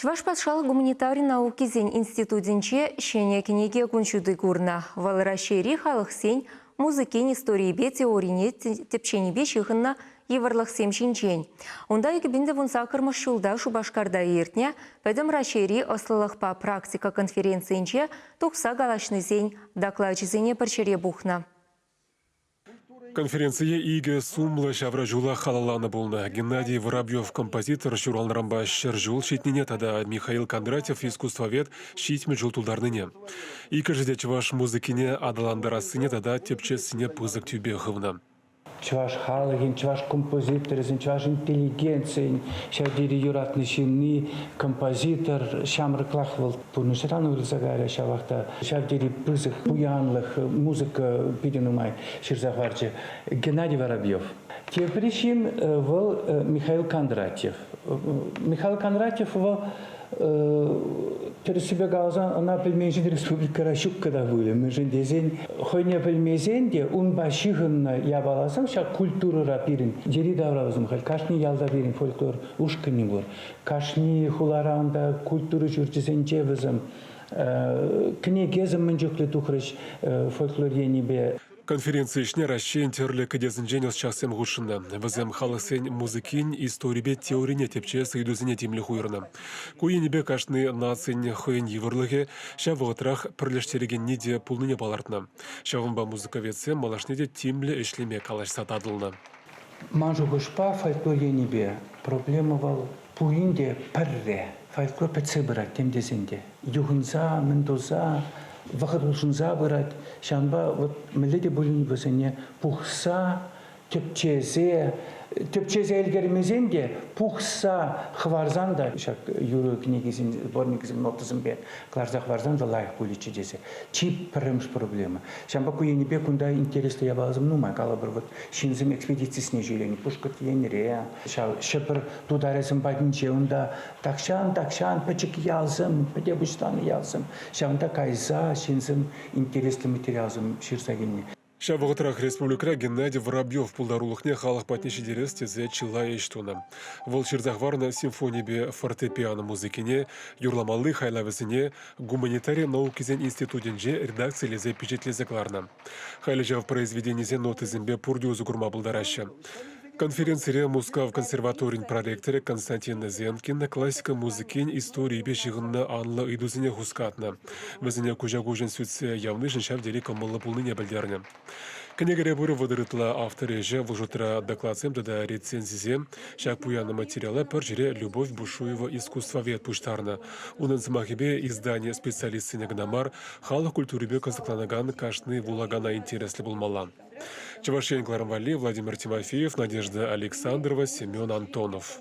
Чӑваш патшалӑх гуманитари наукисен институтӗнче ҫӗнӗ кӗнеке кун ҫути курнӑ. Вӑл Раҫҫейри халӑхсен музыкин историйӗпе теорине тӗпченипе ҫыхӑннӑ йывӑрлӑхсем ҫинчен. Унта икӗпиндӗвун саккӑрмӗш ҫулта Шупашкарта иртнӗ Пӗтӗм Раҫҫейри ӑслӑлӑхпа практика конференцийӗнче тухса калаҫнисен доклачӗсене пӗр ҫӗре пухнӑ. Конференцие икӗ сумлӑ ҫавраҫула халалланӑ пулнӑ. Геннадий Воробьев композитор ҫуралнӑранпа ҫӗр ҫул ҫитнине тата Михаил Кондратьев искусствовед ҫитмӗл ҫул тултарнине, иккӗшӗ те чӑваш музыкине аталантарассине тата тӗпчессине пысӑк тӳпе хывнӑ. Чӑваш халӑхӗн, чӑваш композиторӗсен, чӑваш интеллигенцийӗн ҫав тери юратнӑ ҫынни, композитор ҫамрӑклах вӑл. пурнӑҫран уйрӑлса кайрӗ ҫавах та ҫав тери пысӑк пуянлӑх, музыка питӗ нумай ҫырса хӑварчӗ Геннадий Воробьев. Тепӗр ҫын вӑл Михаил Кондратьев. Михаил Кондратьев вӑл тӗрӗссипе каласан ӑна пӗлменшӗн республикӑра ҫуккӑ та пулӗ, мӗншӗн тесен хӑйне пӗлмесен те унпа ҫыхӑннӑ япаласем ҫак культурӑра пирӗн йӗри-тавра усмӑн халь кашни ялта пирӗн фольклор ушкӑнӗ пур. Кашни хуларан та, культура ҫурчӗсенче вӗсем кӗнекесем мӗн чухлӗ тухрӗҫ фольклор енӗпе. Конференци ӗҫне Раҫҫейӗн тӗрлӗ кӗтесӗнчен ӑсчахсем хутшӑннӑ. Вӗсем халӑхсен музыкин историпе теорине тӗпчес ыйтусене тимлӗх уйӑрнӑ. Ку енӗпе кашни нацин хӑйӗн йывӑрлӑхӗ, ҫав вӑхӑтрах пӗрлештерекенни те пулнине палӑртнӑ. Ҫавӑнпа музыковедсем малашне те тимлӗ ӗҫлеме калаҫса татӑлнӑ. Ман шухӑшпа, фольклор енӗпе проблема вӑл пурин те пӗрре. Фольклор пӗтсе пырать тем тесен те. Юхӑнса, мӗн туса, вӑхӑт улшӑнса пырать. Ҫавӑнпа вот мӗнле те пулин вӗсене пухса, тӗпчесе, тӗпчесе ӗлкӗрмесен те пухса хӑварсан та ҫак юрӑ кӗнекисен, сборникӗсен нотӑсемпе кӑларса хӑварсан та лайӑх пулӗччӗ тесе. Чи пӗрремӗш проблема. Ҫавӑнпа ку енӗпе кунта интереслӗ япаласем нумай. Калӑпӑр, вот ҫынсем экспедицисене ҫӳренӗ Пушкӑрт Енре, ҫав Ҫӗпӗр тутарӗсем патӗнче унта тахҫан, тахҫан пӗчӗк ялсем, пӗте пуҫланӑ ялсем, ҫавӑнта кайса ҫынсем интереслӗ материалсем ҫырса килнӗ. Ҫав вӑхӑтрах республикӑра Геннадий Воробьев пултарулӑхне халӑх патне ҫитерес тесе чылай ӗҫ тунӑ. Вӑл ҫырса хӑварнӑ симфонипе фортепиано музыкине, юрламалли хайлавӗсене гуманитари наукисен институтӗнче редакцилесе пичетлесе кӑларнӑ. Халӗ ҫав произведенисен нотисемпе пурте усӑ курма пултараҫҫӗ. Конференцире Мускав консерваторин проректорӗ Константин Зенкин классика музыкин историйӗпе ҫыхӑннӑ анлӑ ыйтусене хускатнӑ. Вӗсене куҫа-куҫӑн сӳтсе явнишӗн ҫав тери кӑмӑллӑ пулнине пӗлтернӗ. Кӗнекере пур вӑтӑр ытла автор ӗҫӗ, вӑл шутра докладсем тата рецензисем. Ҫак пуянлӑ материала пӗр ҫӗре Любовь Бушуева искусствовед пуҫтарнӑ. Унӑн сӑмахӗпе издание специалистсене кӑна мар, халӑх культурипе кӑсӑкланакан кашни вулакана интереслӗ пулмалла. Чӑваш Ен кӑларӑм валли Владимир Тимофеев, Надежда Александрова, Семен Антонов.